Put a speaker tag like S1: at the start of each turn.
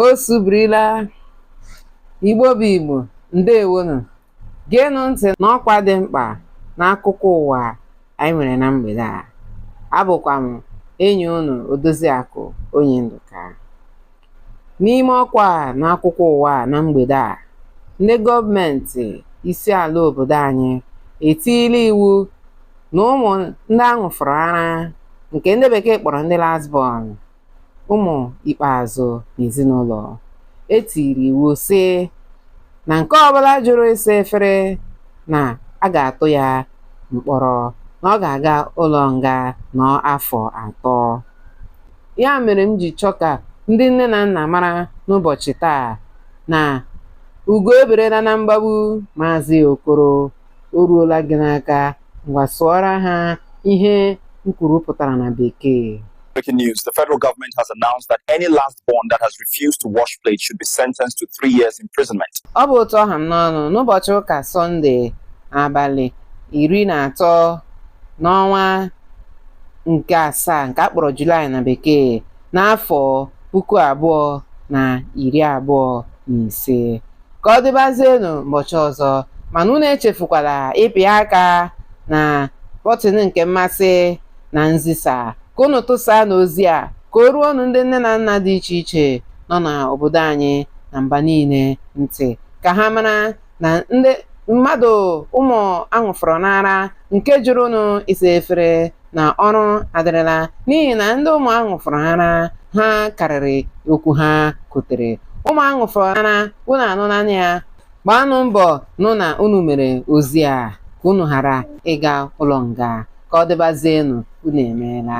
S1: o subirila igbo bụ igbo ndewonu geenụ ntị n'ọkwa dị mkpa n'akụkọ ụwa anyị nwere na mgbede a abụkwa m enyi unu odoziakụ onye ndụka n'ime ọkwa n'akụkọ ụwa na mgbede a ndị gọọmenti isi ala obodo anyị etiila iwu na ụmụ ndị a ṅụfọrọ ara nke ndị bekee kpọrọ ndị last born ụmụ ikpeazụ n'ezinụlọ e tiri iwu sị na nke ọbụla jụrụ ịsa efere na a ga-atụ ya mkpọrọ na ọ ga-aga ụlọ nga nọ afọ atọ ya mere m ji chọọ ka ndị nne na nna mara n'ụbọchị taa na ugo eberela na mgbagbu maazị okoro o ruola gị n'aka ngwa sụọra ha ihe m kwuru pụtara na bekee Breaking news.
S2: The federal government has announced that any last born that has refused to wash plates should be sentenced to three years imprisonment. ọ bụ otu ọ ha m
S1: n'ọnụ n'ụbọchị ụka sọnde abalị iri na atọ n'ọnwa nke asaa nke a kpọrọ julaị na bekee n'afọ puku abụọ na iri abụọ na ise ka ọ dịbazienụ ụbọchị ọzọ mana unu echefukwala ịpị aka na bọtịn nke mmasị na nzisa ka unu tụsaanụ ozi a ka o ruonụ ndị nne na nna dị iche iche nọ n'obodo anyị na mba niile ntị ka ha mara na ndị mmadụ ụmụ a ṅụfọrọnụ ara nke jụrụnụ ịsa efere na ọrụ adịrịla n'ihi na ndị ụmụ a ṅụfọrọ ara ha karịrị okwu ha kotere ụmụ a ṅụfọrọ ara unu anụna ya gbaanụ mbọ nụ na unu mere ozi a ka unu ghara ịga ụlọ nga ka ọ dịbazienụ unu emeela